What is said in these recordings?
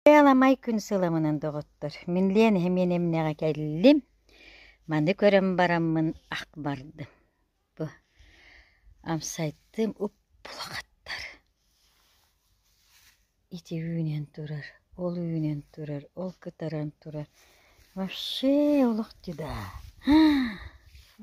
Аламай күн сыламынан доҕоттор, мин Лен иһэ миэн эмнэҕэ кэллим. Маны көрөн бараммын ах бардым. Бу амсайтым уп-улахаттар. Ити үүнэн турар, ол үүнэн турар, ол кытаран турар. Вообще олох дьыда.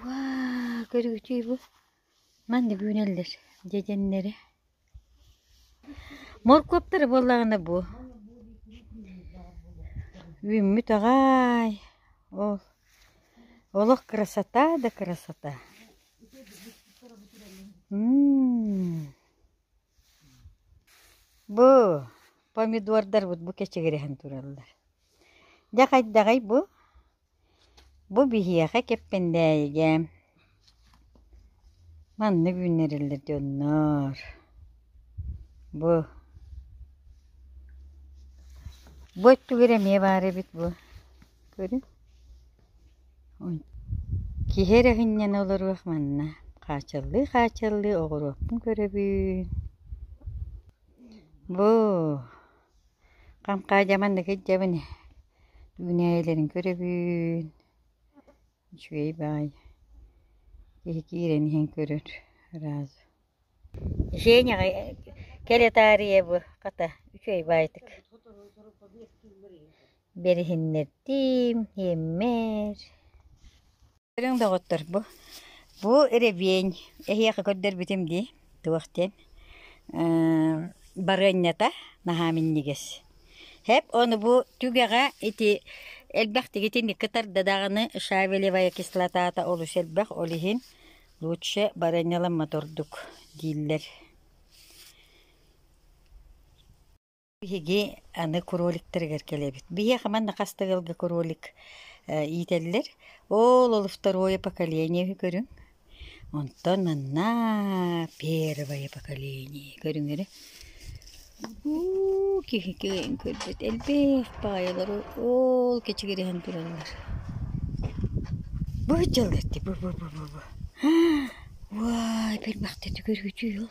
Ваа, көрүгүтүй бу? Манна бүөлөллөр дьэдьэннэри Моркуоптара буоллаҕына бу үүммүт аҕаай ол олох красота да красота бу помидордарбыт бу кэчигирэһэн тураллар дьэ хайдаҕый бу Бу биһиэхэ Кэппэндээйигэ манна үүннэриллэр дьоннор бу бу өттүгэр эмиэ баар эбит бу көрүҥ киһи эрэ сынньана олоруох манна хаачаллыы хаачаллыы оҕуруоппун көрөбүн бу Хамхаадьа маннык ирдэбин үүнээйилэрин көрөбүн, үчүгэй баай, киһи киирэн иһэн көрөр ыраас. Женяҕа кэлэ таарыйа бу, хата, үчүгэй баайтык бэриһиннэрдиим, иэммэр Көрүҥ доҕоттор, бу бу ревень эһиэхэ көрдөрбүтүм дии туох диэн барыанньата наһаа минньигэс. Хэп ону бу түгэҕэ ити элбэхтик итинникки тарда даҕаны шавелевая кислотата олус элбэх ол иһин лучше барыанньаламмат ордук дииллэр. Биһиги аны кроликтарыгар кэлэбит. Биһиэхэ манна хастыгылга кролик э, иитэллэр. Ол ол второе поколение үһү көрүҥ. Онтон анна первое поколение көрүҥөрө. Уу, киһи киэҥ көрбүт. Элбэх баайалары ол кэчигириһэн тураллар. Бу дьаллар ти бу бу бу бу бу. Вай, бэл бахта түгөргүтүй ол.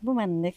Бу маннык.